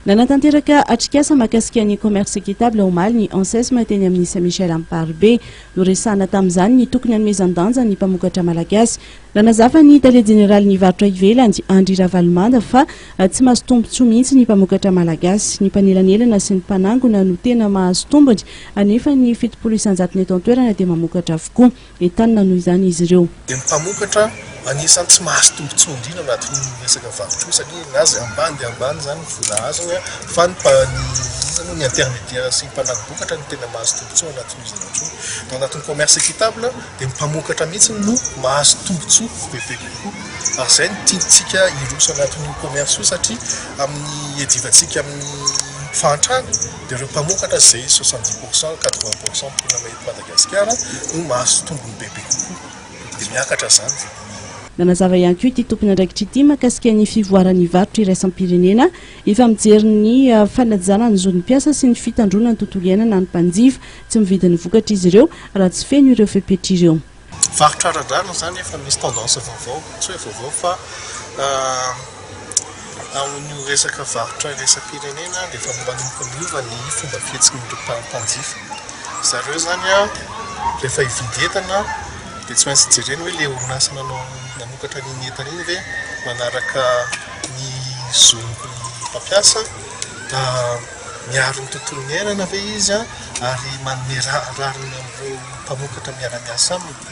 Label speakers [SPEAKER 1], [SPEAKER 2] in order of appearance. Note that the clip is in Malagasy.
[SPEAKER 1] Nanatanteraka atrikasa mahakasika ny commerce équitable omaly ny Ansesm teny amin'ny Saint Michel Amparibe. Noresahana tamin'izany ny tokony hanomezan-danja ny mpamokatra malagasy. Nanazava ny tale jeneralin'ny varotra ivelany, Andry Ravalomanda, fa tsy mahazo tombontsoa mihitsy ny mpamokatra malagasy. Ny mpanelanelana sy ny mpanangona no tena mahazo tombony, nefa ny fitopolo isan-jatony eto an-toerana dia mamokatra avokoa. entanina noho izany izy ireo. Dia ny mpamokatra
[SPEAKER 2] anisan'ny tsy mahazo tombontsoa indrindra anatin'ny resaka varotra io satria ny azy ambany dia ambany izany ny vola azony a, fa ny mpa, ny iza moa, ny intermédiaire sy ny mpanago vokatra no tena mahazo tombontsoa anatin'io zavatra io. Raha anatin'ny commerce équitable dia ny mpamokatra mihitsy no mahazo tombontsoa bebe kokoa ary izay no tiantsika hiroso anatin'io commerce io satria amin'ny iadivantsika amin'ny fahantrana dia ireo mpamokatra izay soixante dix pourcent, quatre vingt pourcent mponina eto Madagasikara. Madagasikara no mahazo tombony bebe kokoa, dia miakatra izany ny. Nanazava
[SPEAKER 1] ihany koa ity tompon'andraikitra ity mahakasika ny fivoaran'ny varotra iraisam-pirenena efa mijery ny fanajana ny zon'ny mpiasa sy ny fitandroana ny tontolo iainana ny mpanjifa. Tsy mividy ny vokatra izy ireo raha tsy feno ireo fepetra ireo. Varotra ara-drariny
[SPEAKER 2] izany efa misy tendance vaovao, tsy hoe vaovao fa Ao amin'io resaka varotra iraisam-pirenena dia efa manomboka miova ny fomba fihetsin'ireo mpanjifa. Ry zareo izany rehefa hividy entana dia tsy maintsy jereny hoe ilay orinasa nanao nanokatra an'iny entana iny ve manaraka ny zon'ny mpampiasa, miaro ny tontolon'ny iainana ve izy ary manome rariny an'ireo mpamokatra miara-miasa aminy.